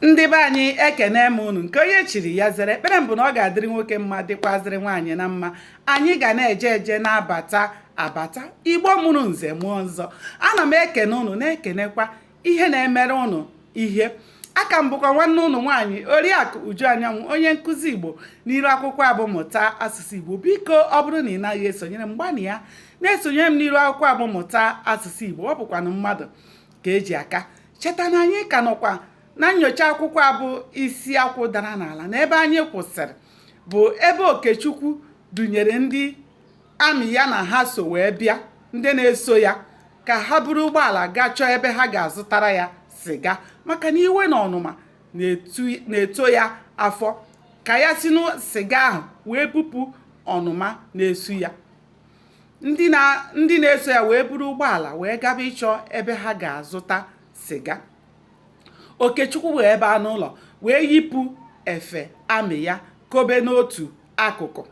ndị be anyị ekene m unu nke onye chiri ya zere ekpere m bụ na ọ ga-adịrị nwoke mma dịkwazịrị nwaanyị na mma anyị ga na-eje eje na-abata abata igbo mụrụ nze mụọ ọzọ ana m ekene unu na-ekenekwa ihe na-emere unu ihe aka m bụkwa nwanne unu nwaanyị oriakụ uju anyanwụ onye nkụzi igbo n'iru akwụkwọ a bụ mụta asụsụ igbo biko ọ bụrụ na ị naghị esonyere m gbanịa na-esonyere m n'iru akwụkwọ a bụ mụta asụsụ igbo ọ bụkwanụ mmadụ ka e ji aka cheta na anyị ka nọkwa na nyocha akwụkwọ a bụ isi akwụ dara n'ala na ebe anyị kwụsịrị bụ ebe okechukwu dunyere ndị amị ya na ha so wee bịa ndị na-eso ya ka ha buru ụgbọala gaa chọọ ebe ha ga-azụtara ya siga maka na iwe na ọnụma na-eto ya afọ ka ya si na siga ahụ wee bupụ ọnụma na-esu ya ndị na-eso ya wee buru ụgbọala wee gaba ịchọ ebe ha ga-azụta siga okechukwu wee baa n'ụlọ wee yipụ efe amị ya kobe n'otu akụkụ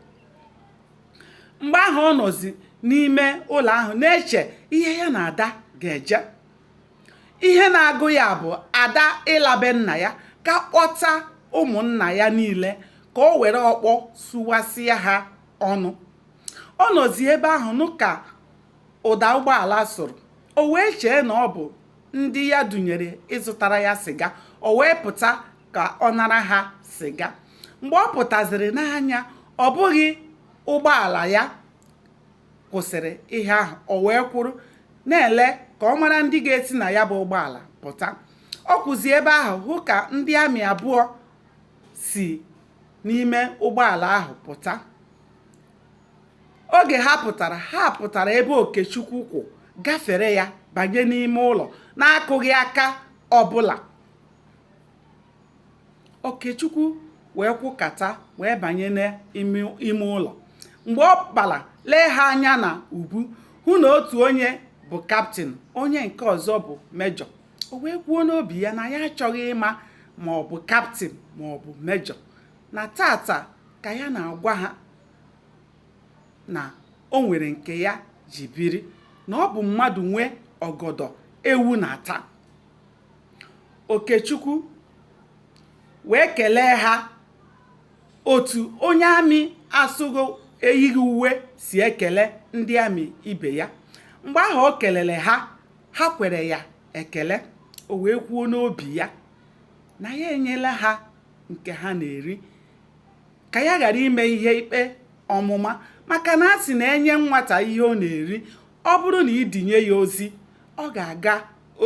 mgbe ahụ ọ nọzi n'ime ụlọ ahụ na-eche ihe ya na ada ga-eje ihe na-agụ ya bụ ada ịla be nna ya ka kpọta ụmụnna ya niile ka o were ọkpọ sụwasịa ha ọnụ ọ nọzi ebe ahụ nụ ka ụda ụgbọala sụrụ o wee chee na ọ bụ ndị ya dunyere ịzụtara ya siga o wee pụta ka ọ nara ha siga mgbe ọ pụtaziri nee anya ọ bụghị ụgbọala ya kwụsịrị ihe ahụ o wee kwụrụ na-ele ka ọ mara ndị ga-esi na ya bụ ụgbọala pụta ọ kwụzi ebe ahụ hụ ka ndị amị abụọ si n'ime ụgbọala ahụ pụta oge ha pụtara ha pụtara ebe okechukwu kwụ gafere ya banye n'ime ụlọ na-akụghị aka ọbụla okechukwu wee kwụkata wee banye n'ime ụlọ mgbe ọ kpara lee ha anya na ubu hụ na otu onye bụ kaptịn onye nke ọzọ bụ mejọ o wee kwuo n'obi ya na ya achọghị ịma ma ọ bụ kaptịn ma ọ bụ mejọ na tata ka ya na-agwa ha na o nwere nke ya ji biri na ọ bụ mmadụ nwe ọgọdọ ewu na-ata Okechukwu wee kelee ha otu onye amị asụgo eyighị uwe si ekele ndị amị ibe ya mgbe ahụ o kelere ha ha kwere ya ekele o wee kwuo n'obi ya na ya enyela ha nke ha na-eri ka ya ghara ime ihe ikpe ọmụma maka na a sị na enye nwata ihe ọ na-eri ọ bụrụ na idinye ya ozi ọ ga-aga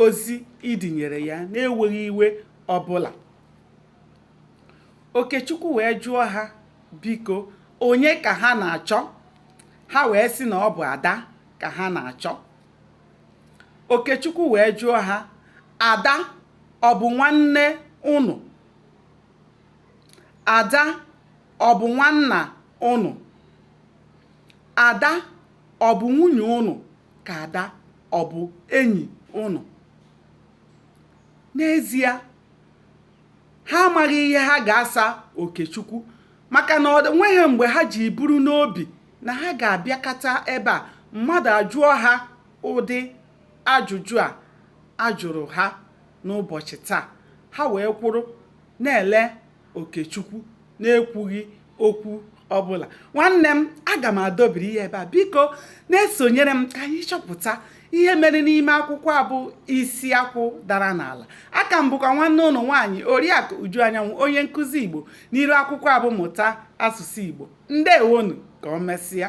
ozi idinyere ya na-enweghị iwe ọbụla okechukwu wee jụọ ha biko onye ka ha na-achọ ha wee sị na ọ bụ ada ka ha na-achọ Okechukwu wee jụọ ha, Ada ọ bụ nwanne unu? Ada ọ bụ nwanna unu? Ada ọ bụ nwunye unu ka Ada ọ bụ enyi unu? N'ezie, ha amaghị ihe ha ga-asa Okechukwu maka na ọ nweghị mgbe ha ji buru n'obi na ha ga-abịakata ebe a mmadụ ajụọ ha ụdị ajụjụ a ajụrụ ha n'ụbọchị taa ha wee kwụrụ na-ele Okechukwu na-ekwughị okwu ọbụla nwanne m aga m adọbiri ihe ebe a biko na-esonyere m ka anyị chọpụta ihe mere n'ime akwụkwọ a bụ isi akwụ dara n'ala aka m bụkwa nwanne unu nwaanyị oriakụ uju anyanwụ onye nkụzi igbo n'iru akwụkwọ a bụ mụta asụsụ igbo ndewonu ka o mesịa